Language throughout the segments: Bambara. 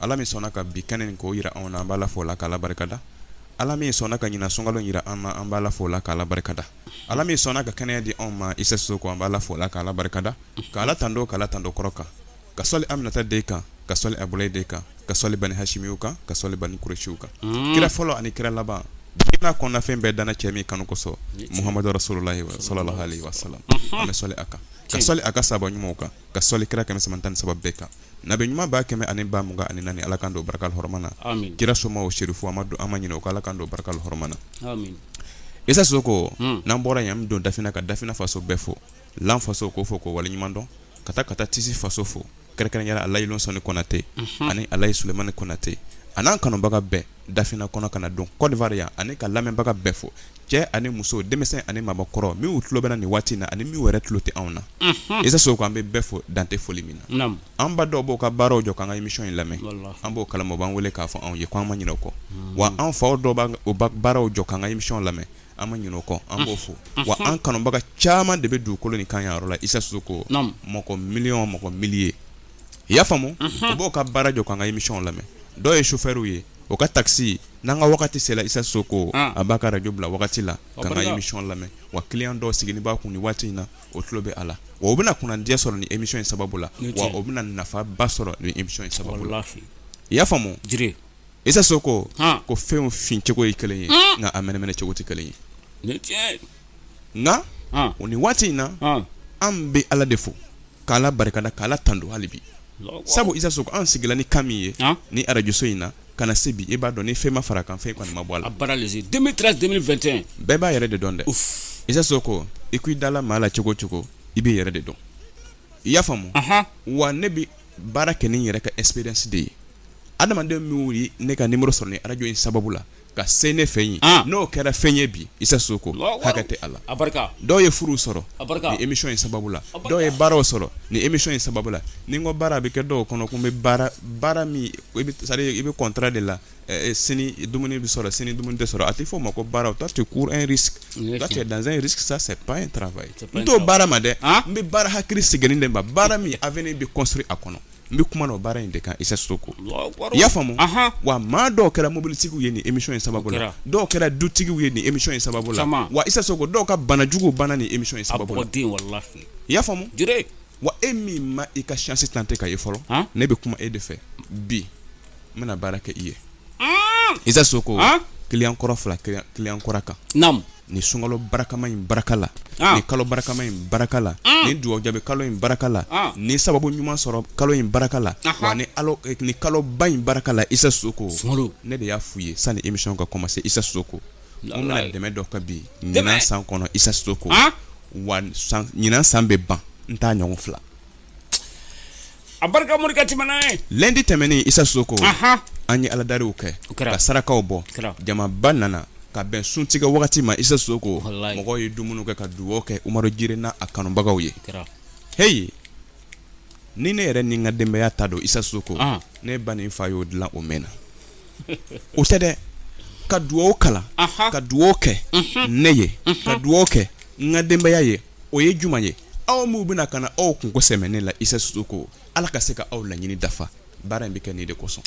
Ala min sɔnna ka bi kɛnɛ in k'o jira anw na, an b'a Ala fo k'a Ala barikada, Ala min sɔnna ka ɲina sunkalo jira an na, an b'a Ala fo k'a Ala barikada, Ala min sɔnna ka kɛnɛya di anw ma Isa Soko, an b'a Ala fo k'a Ala barikada, ka Ala tando ka Ala tando kɔrɔ kan, ka sɔli Aminata den kan, ka sɔli Abudulayi den kan, ka sɔli Bani Hasimiw kan, ka sɔli Bani Kuresiw kan, kira fɔlɔ ani kira laban, diɲɛ n'a kɔnɔna fɛn bɛɛ danna cɛ min kanu kosɔn Mohamadu rasululahi sɔlɔlahalahi wasalam, an bɛ sɔli a kan, ka sɔli a ka sahaba ɲumanw kan. ka sɔli kira kɛmɛ saba tan ni saba bɛɛ kan nabi ɲuman ba kɛmɛ ani ba mugan ani naani ala k'an don barika hɔrɔma na kira somaaw serifu an ma don an ma ɲinɛ o kɔ ala k'an don barika hɔrɔma na isa soko hmm. n'an bɔra yan an don dafina ka dafina faso bɛɛ fo lan faso k'o fo k'o waleɲuman dɔn ka taa ka taa tisi faso fo kɛrɛnkɛrɛnyara alayi lonsɔni kɔnate mhm. ani alayi sulemani kɔnate a n'an kanubaga bɛɛ dafina kɔnɔ ka na don kɔdiwari yan ani ka lamɛnbaga bɛɛ fo cɛ ani muso denmisɛn ani maabakɔrɔ minw tulo b'an na nin waati na ani min wɛrɛ tulo tɛ anw na isa soko an bɛ bɛɛ fo dan tɛ foli min na an ba dɔw b'o ka baaraw jɔ k'an ka émission in lamɛn an b'o kalama b'an wele k'a fɔ anw ye k'an ma ɲinɛ o kɔ wa an fa dɔw b'o baaraw jɔ k'an ka émission lamɛn an ma ɲinɛ o kɔ an b'o fo wa an kanubaga caman de bɛ dugukolo nin kan yɔrɔ la isa soko mɔgɔ miliɔn mɔgɔ millier i y'a faamu u b'o ka baara jɔ k'an ka émission lamɛn dɔw ye chauffeur ye o ka taxi n'an ka wagati sera Isa Soko ah. a b'a ka radio bila wagati la k'an ka émission lamɛn wa client dɔw sigilen b'a kun nin waati in na o tulo bɛ a la wa o bɛna kunnandiya sɔrɔ nin émission in sababu la wa o bɛna nafaba sɔrɔ nin émission in sababu la i y'a faamu Isa Soko ah. ko fɛnw fin cogo ye kelen ye ah. nka a mɛnɛmɛnɛ cogo tɛ kelen ye nka o nin waati in na an bɛ Ala de fo k'ala barikada k'ala tando hali bi sabu isa soko an sigila ni kan min ye ni arajoso in na ka na se bi e b'a dɔn ni fɛn ma fara a kan fɛn kɔni ma bɔ a la 2013 2021 bɛɛ b'a yɛrɛ de dɔn dɛ isa soko i ko i dala maa la cogo cogo i b'i yɛrɛ de dɔn i y'a faamu wa ne bɛ baara kɛ ni n yɛrɛ ka expérience de ye adamaden min ye ne ka numéro sɔrɔ ni arajo in sababu la ka se ne fɛ yen ah. n'o kɛra fɛn ye bi isa soko hakɛ tɛ a la dɔw ye furu sɔrɔ ni émission in sababu la dɔw ye baaraw sɔrɔ ni émission in sababu la ni n ko baara bɛ kɛ dɔw kɔnɔ ko n bɛ baara baara min i bɛ contrat de la eh, eh, sini dumuni bɛ sɔrɔ sini dumuni tɛ sɔrɔ a tɛ fɔ o ma ko baara toi tu cours un risque toi tu es dans un risque ça c'est pas un travail n t'o baara ma dɛ ah. n bɛ baara hakili sigilen de ma baara min avenir bɛ construit a kɔnɔ n bɛ kuma na o baara in de kan isa soko i y'a faamu wa maa dɔw kɛra mobilitigiw ye ni émission in sababu la dɔw kɛra dutigiw ye ni émission in sababu la wa isa soko dɔw ka banajugu banna ni émission in sababu la i y'a faamu wa e min ma i ka chance tenter ka ye fɔlɔ ne bɛ kuma e de fɛ bi n bɛna baara kɛ i ye isa soko client kɔrɔ fila client kura kan ni sunkalo barakama in baraka la ah. ni kalo barakama in baraka la ah. ni dugawu jaabi kalo in baraka la ah. ni sababu ɲuman sɔrɔ kalo in baraka la wa ni alo eh, ni kalo ba in baraka la isa soko ne de y'a f'u ye sani émission ka commencer isa soko n bɛna dɛmɛ dɔ kɛ bi ɲinan san kɔnɔ isa soko wa ɲinan san bɛ ban n t'a ɲɔgɔn fila a barika morikɛ tɛmɛna ye lundi tɛmɛnen isa soko Aha. an ye aladariw kɛ O kɛra. ka sarakaw bɔ Kɛra. jamaba nana ka bɛn suntigɛ wagati ma isa soko Walayi. mɔgɔw ye dumuni kɛ ka dugawu kɛ umaru jire n'a a kanubagaw ye kɛra heyi ni ne yɛrɛ ni n ka denbaya ta don isa soko Ah. ne ba ni n fa y'o dilan o mɛnna o tɛ dɛ ka dugawu kalan Aha. ka dugawu kɛ ne ye ka dugawu kɛ n ka denbaya ye o ye juma ye aw minnu bɛna ka na aw kunko sɛmɛ ne la isa soko ala ka se ka aw laɲini dafa baara in bɛ kɛ nin de kosɔn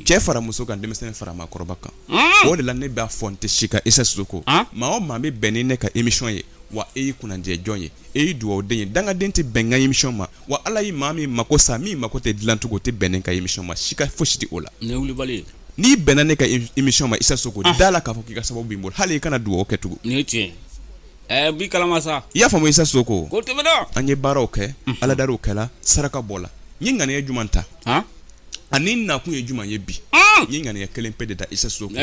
cɛ fara muso kan denmisɛnnin fara maakɔrɔba kan hmm. o de la ne b'a fɔ n tɛ sika isa soko ah. maa o maa bɛ bɛn ni ne ka émission ye wa e ye kunnadiya jɔn ye e ye dugawu den ye dangaden tɛ bɛn n ka émission ma wa ala ye maa min mako sa min mako tɛ dilancogo o tɛ bɛn ne ka émission ma sika fosi tɛ o la n'i bɛnna ne ka émission ma isa soko ah. da a la k'a fɔ k'i ka sababu b'i bolo hali i kana dugawu kɛ tugun Bi kala sa i y'a faamuya isa soko tɛm an ye baaraw kɛ aladariw kɛra saraka bɔla n ye ŋaniya jumɛn ta ani nakun ye jumɛn ye bi n ye ŋaniya kelen pe de ta isa soko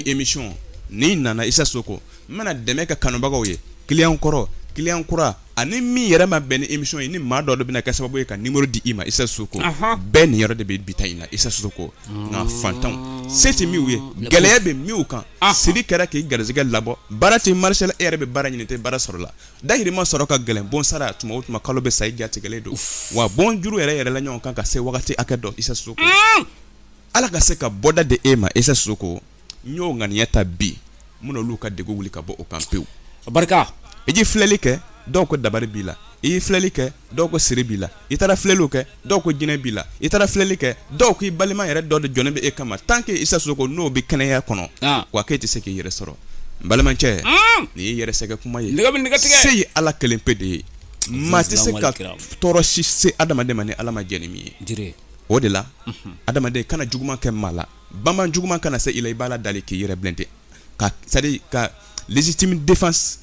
émission ni nana isa soko n bɛna dɛmɛ kɛ kanubagaw ye client kɔrɔ client kura ani min yɛrɛ ma bɛn ni émission ye ni maa dɔ de bɛna kɛ sababu ye ka numéro di i ma isa soko bɛɛ niyɔrɔ de bɛ bi ta in na isa soko nka fantanw se tɛ min ye gɛlɛya bɛ min kan siri kɛra k'i garisɛgɛ labɔ baara tɛ marcher la e yɛrɛ bɛ baara ɲini tɛ baara sɔrɔ la dahirimɛ sɔrɔ ka gɛlɛn bon sara tuma o tuma kalo bɛ sa i jatigɛlen don wa bon juru yɛrɛ yɛrɛ la ɲɔgɔn kan ka se wagati hakɛ dɔ isa soko ala ka se ka bɔda di e ma isa soko n y'o ŋaniya ta bi minnu olu ka degun wuli ka bɔ o kan pewu barika i ye filɛli kɛ dɔw ko dabari b'i la i ye filɛli kɛ dɔw ko siri b'i la i taara filɛliw kɛ dɔw ko jinɛ b'i la i taara filɛli kɛ dɔw k'i balima yɛrɛ dɔ de jɔlen bɛ e kama tant que Isa Sisoko n'o bɛ kɛnɛya kɔnɔ ah. wa k'e tɛ se k'i yɛrɛ sɔrɔ n balimacɛ hmm. nin y'i yɛrɛ sɛgɛ kuma ye nɛgɛ bɛ nɛgɛ tigɛ se ye Ala kelen pe de ye maa tɛ se ka tɔɔrɔ si se adamaden ma ni Ala ma jɛ ni min ye o de la mhm. adamaden kana juguman kɛ maa la banba juguman kana se i la i b'Ala dali k'i yɛrɛ blinder ka c'est à dire ka légitime défense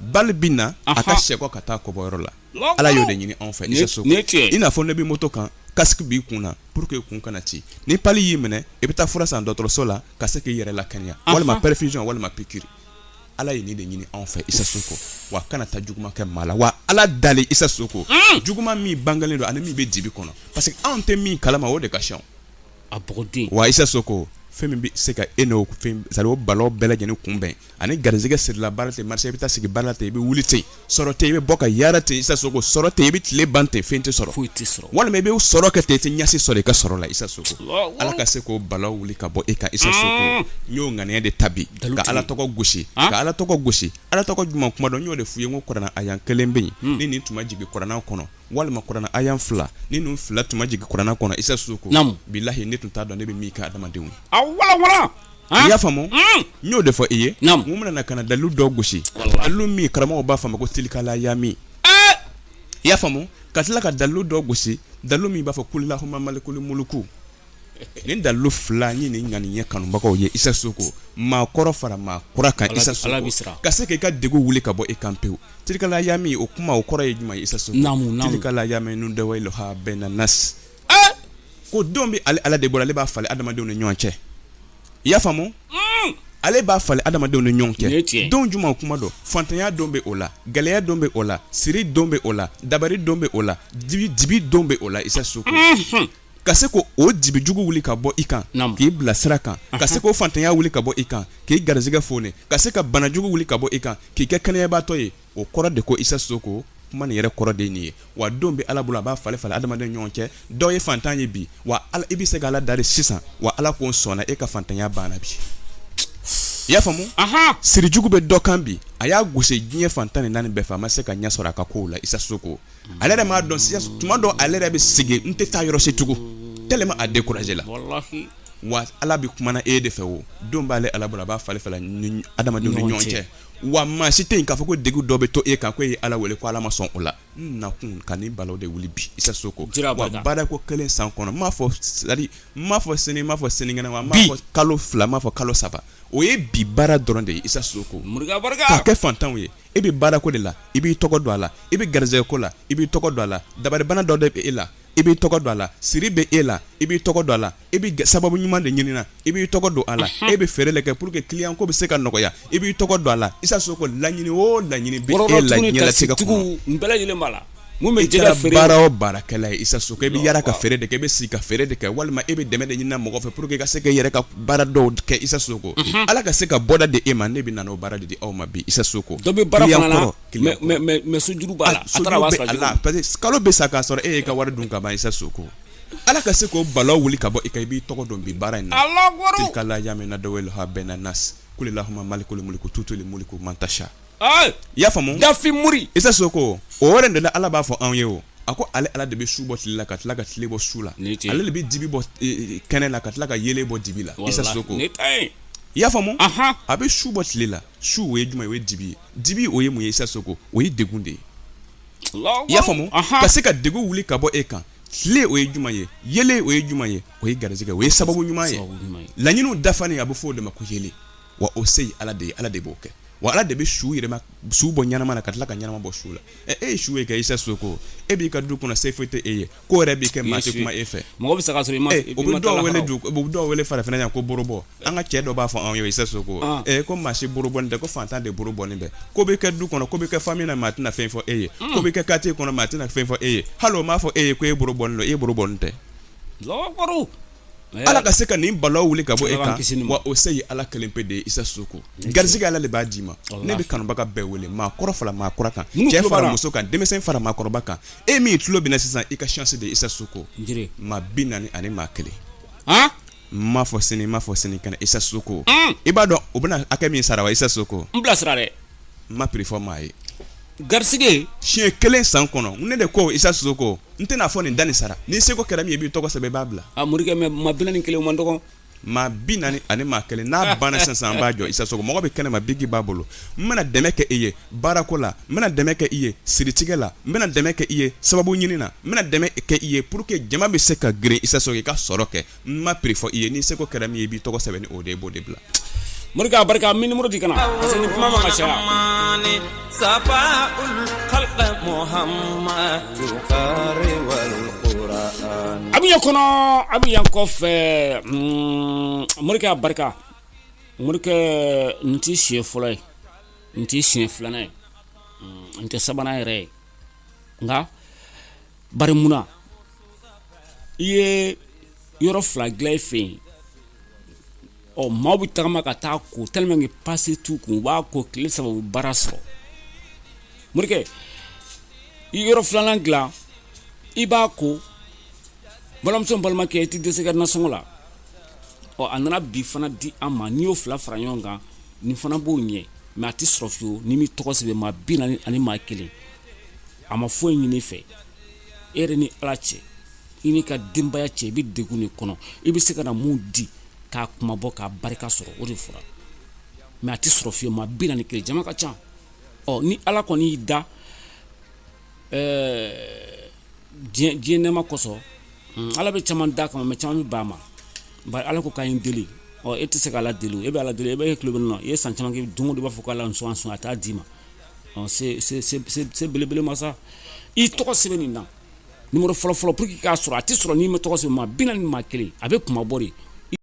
balle bɛ na a ka sɛkɔ ka taa kɔ bɔyɔrɔ la ala y'o de ɲini anw fɛ isa soko i n'a fɔ n'e bɛ moto kan casque b'i kun na pour que kun kana ci ni pali y'i minɛ i bɛ taa fura san dɔgɔtɔrɔso la ka se k'i yɛrɛ lakɛnɛya walima perfusion walima piqûre ala ye nin de ɲini anw fɛ isa soko wa kana taa juguman kɛ maa la wa ala dali isa soko mm. juguman min bangelen don ani min bɛ dibi kɔnɔ parce que anw tɛ min kalama o de ka ca wa isa so ko fɛn min bɛ se ka e n'o sa o balawu bɛɛ lajɛlen kunbɛn ani garisɛgɛ sirila baara tɛ marché i bɛ taa sigi baara ten i bɛ wuli ten sɔrɔ ten i bɛ bɔ ka yaala ten isa soko sɔrɔ ten i bɛ tile ban ten fɛn tɛ sɔrɔ foyi tɛ sɔrɔ walima i bɛ sɔrɔ kɛ ten i tɛ ɲɛci sɔrɔ i ka sɔrɔ la isa soko ala ka se k'o balaw wuli ka bɔ e kan isa soko n y'o ŋaniya de ta bi ka ala tɔgɔ gosi ka ala tɔgɔ gosi ala tɔgɔ jumɛn kuma don n y'o de f'u ye ko kurana aya kelen bɛ yen ni nin tun ma jigin kurana kɔnɔ walima kurana aya fila ni ninnu fila tun ma jigin kurana kɔnɔ isa soko bilahi ne tun t'a dɔn ne bɛ min kɛ adamadenw ye i y'a faamu mm. n y'o de fɔ i ye mun bɛna na ka na dalilu dɔ gosi dalilu min karamɔgɔw b'a fɔ a ma ko tilikala yami eh! i y'a faamu ka tila ka dalilu dɔ gosi dalilu min b'a fɔ kulilahuma malikuli muluku nin dalilu fila n ye nin ŋaniya kanubagaw ye isa soko maa kɔrɔ fara maa kura kan isa soko ka se k'i ka degun wuli ka bɔ i kan pewu tilikala yami o kuma o kɔrɔ ye jumɛn ye isa soko tilikala yami nudawiluha bayina nas eh! ko donw bɛ ale ala de bolo ale b'a falen adamadenw ni ɲɔgɔn cɛ i y'a faamu mm! ale b'a falen adamadenw ni ɲɔgɔn cɛ don jumɛn kuma don fantanya don bɛ o la gɛlɛya don bɛ o la siri don bɛ o la dabari don bɛ o la dibi don bɛ o la isa soko mm-hmm. ka se k'o dibi jugu wuli ka bɔ i kan k'i bila sira kan ka se k'o fantanya wuli ka bɔ i kan k'i garisɛgɛ foni ka se ka banajugu wuli ka bɔ i kan k'i kɛ kɛnɛyabaatɔ ye o kɔrɔ de ko isa soko kuma nin yɛrɛ kɔrɔ de nin ye wa don bɛ ala bolo a b'a falen falen adamaden ɲɔgɔn cɛ dɔw ye fantan ye bi wa i bɛ se ka ala dari sisan wa ala ko sɔnna e ka fantanya banna bi i y'a faamu sirijugu bɛ dɔ kan bi a y'a gosi diɲɛ fan tan ni naani bɛɛ fɛ a ma se ka ɲɛ sɔrɔ a ka ko la isa soko ale yɛrɛ m'a dɔn tuma dɔw ale yɛrɛ bɛ sigi n tɛ taa yɔrɔ si tugun tellement a découragé la wa ala bɛ kuma e de fɛ o don b'ale ala bolo a b'a falen adamadenw ni ɲɔgɔn cɛ wa maa si tɛ yen k'a fɔ ko degun dɔ bɛ to e kan ko e ye ala wele ko ala ma sɔn o la n nakun ka nin balaw de wuli bi isa soko wa baara ko kelen san kɔnɔ n m'a fɔ c'est-à-dire n m'a fɔ sini n m'a fɔ sinikɛnɛ wa n m'a fɔ kalo fila n m'a fɔ kalo saba o ye bi baara dɔrɔn de ye isa soko k'a kɛ fantanw ye e bɛ baara ko de la i b'i tɔgɔ don a la i bɛ garisɛgɛ ko la i b'i tɔgɔ don a la dabaribana dɔ de bɛ e la i b'i tɔgɔ don a la siri bɛ e la i b'i tɔgɔ don a la i bɛ sababu ɲuman de ɲini na i b'i tɔgɔ don a la e bɛ feere de kɛ pour que client ko bɛ se ka nɔgɔya i b'i tɔgɔ don a la isa soko laɲini o laɲini bɛ e la bɛɛ lajɛlen b'a la baara o baarakɛla ye isa soko i bɛ yaara ka feere de kɛ i bɛ sigi ka feere de kɛ walima e bɛ dɛmɛ de ɲini mɔgɔ fɛ pour que i ka se ka i yɛrɛ ka baara dɔw kɛ isa soko ala ka se ka bɔda di e ma ne bɛ na o baara de di aw ma bi isa soko mais sojuru b'a la kalo bɛ sa k'a sɔrɔ e y'i ka wari dun ka ban isa soko ala ka se k'o balaw wuli ka bɔ i kan i b'i tɔgɔ don bi baara in na tilkal ayamu nudawiluha bayna nasi kuli lahuma malikal muluki tutil muluka man tasha i y'a faamu dafin mori isa soko o yɛrɛ de ala b'a fɔ anw ye o a ko ale ala de bɛ su bɔ tile la ka tila ka tile bɔ su la ale de bɛ dibi bɔ e, e, kɛnɛ la ka tila ka yelen bɔ dibi la isa soko i y'a faamu a bɛ su bɔ tile la su o ye jumɛn ye o ye dibi ye dibi o ye mun ye isa soko o ye degun de ye i y'a faamu ka se ka degun wuli ka bɔ e kan tile o ye jumɛn ye yelen o ye jumɛn ye o ye garisɛgɛ o ye sababu ɲuman ye laɲiniw dafalen a bɛ fɔ o de ma ko yelen wa o se ye ala de ye ala de b'o kɛ wa ala de bɛ su yɛrɛma su bɔ ɲɛnama na ka tila ka ɲɛnama bɔ su la ɛ e ye su ye kɛ isa soko e b'i ka du kɔnɔ se foyi tɛ e ye ko yɛrɛ bɛ kɛ maa tɛ kuma e fɛ mɔgɔ bɛ se ka sɔrɔ i ma o bɛ dɔw wele farafinna yan ko buru bɔ an ka cɛ dɔ b'a fɔ anw ye isa soko ah. ee eh, ko maa si buru bɔnen tɛ ko faantan de buru bɔnen bɛ ko bɛ kɛ du kɔnɔ ko bɛ kɛ famille na maa tɛna fɛn fɔ e ye hmm. ko bɛ kɛ quartier kɔnɔ maa tɛna fɛn fɔ e ye hali o m'a fɔ e ye ko e buru bɔnen don e buru bɔnen tɛ ala ka se ka nin balaw wuli ka bɔ e kan wa o se ye ala kelen pe de ye isa soko garisɛgɛ ala de b'a d'i ma ne bɛ kanubaga bɛɛ wele maa kɔrɔ fara maa kura kan cɛ fara muso kan denmisɛn fara maakɔrɔba kan e min tulo bɛ n na sisan i ka chance de ye isa soko maa bi naani ani maa kelen M'a fɔ sini n m'a fɔ sini kɛnɛ isa soko i b'a dɔn u bɛna hakɛ min sara wa isa soko n bilasira dɛ n ma prix fɔ maa ye garisɛgɛ siɲɛ kelen san kɔnɔ ne de ko isa soko n tɛna a fɔ nin da nin sara n'i seko kɛra min ye i b'i tɔgɔ sɛbɛn i b'a bila a morikɛ mais maa bi naani ni kelen man dɔgɔ maa bi naani ani maa kelen n'a banna sisan an b'a jɔ isa soko mɔgɔ bɛ kɛnɛ ma biki b'a bolo n bɛna dɛmɛ kɛ e ye baarako la n bɛna dɛmɛ kɛ i ye siritigɛ la n bɛna dɛmɛ kɛ i ye sababu ɲini na n bɛna dɛmɛ kɛ i ye pour que jama bɛ se ka girin isa soko i ka sɔrɔ kɛ n ma prix fɔ i ye n'i seko kɛra min ye i b'i tɔgɔ sɛbɛn ni o de ye i b'o de bila morikɛ a barika min nimɔrɔ di kana parce que ni kuma man ka caya a bɛ yan kɔnɔ a bɛ yan kɔfɛ mm, morikɛ a barika morikɛ nin t'i siɲɛ fɔlɔ ye nin tɛ siɲɛ filanan ye nin tɛ sabanan yɛrɛ ye nka bari munna i ye yɔrɔ fila dilan fɛ yen ɔ maaw bɛ tagama ka taa ko tellement que passe tout kun u b'a ko tile saba u baara sɔrɔ morikɛ i yɔrɔ filanan dilan i b'a ko balimamuso balimakɛ i tɛ dɛsɛ i ka nasɔngɔ la ɔ a nana bi fana di an ma n'i y'o fila fara ɲɔgɔn kan nin fana b'o ɲɛ mais a tɛ sɔrɔ fiyewu ni min tɔgɔ sɛbɛn maa bi naani ani maa kelen an ma foyi ɲini i fɛ e yɛrɛ ni ala cɛ i n'i ka denbaya cɛ i bɛ degun de kɔnɔ i bɛ se ka na mun di k'a kunmabɔ k'a barika sɔrɔ o de fɔra mais a tɛ sɔrɔ fiyewu maa bi naani kelen jama ka ca ɔ ni ala kɔni y'i da Ɛɛ diɲɛ nɛɛma kosɔn ala bɛ caman da kama mɛ caman bɛ ban a ma bari ala ko k'a ye n deli ɔ e tɛ se k' ala deli e bɛ ala deli e bɛ tulolo na e ye san caman kɛ don o don i b'a fɔ k' ala sɔn sɔn a t'a d'i ma se belebele masa i tɔgɔ sɛbɛn nin na numéro fɔlɔfɔlɔ pour que i k'a sɔrɔ a tɛ sɔrɔ n'i ma tɔgɔ sɛbɛn maa bi naani ni maa kelen a bɛ kuma bɔ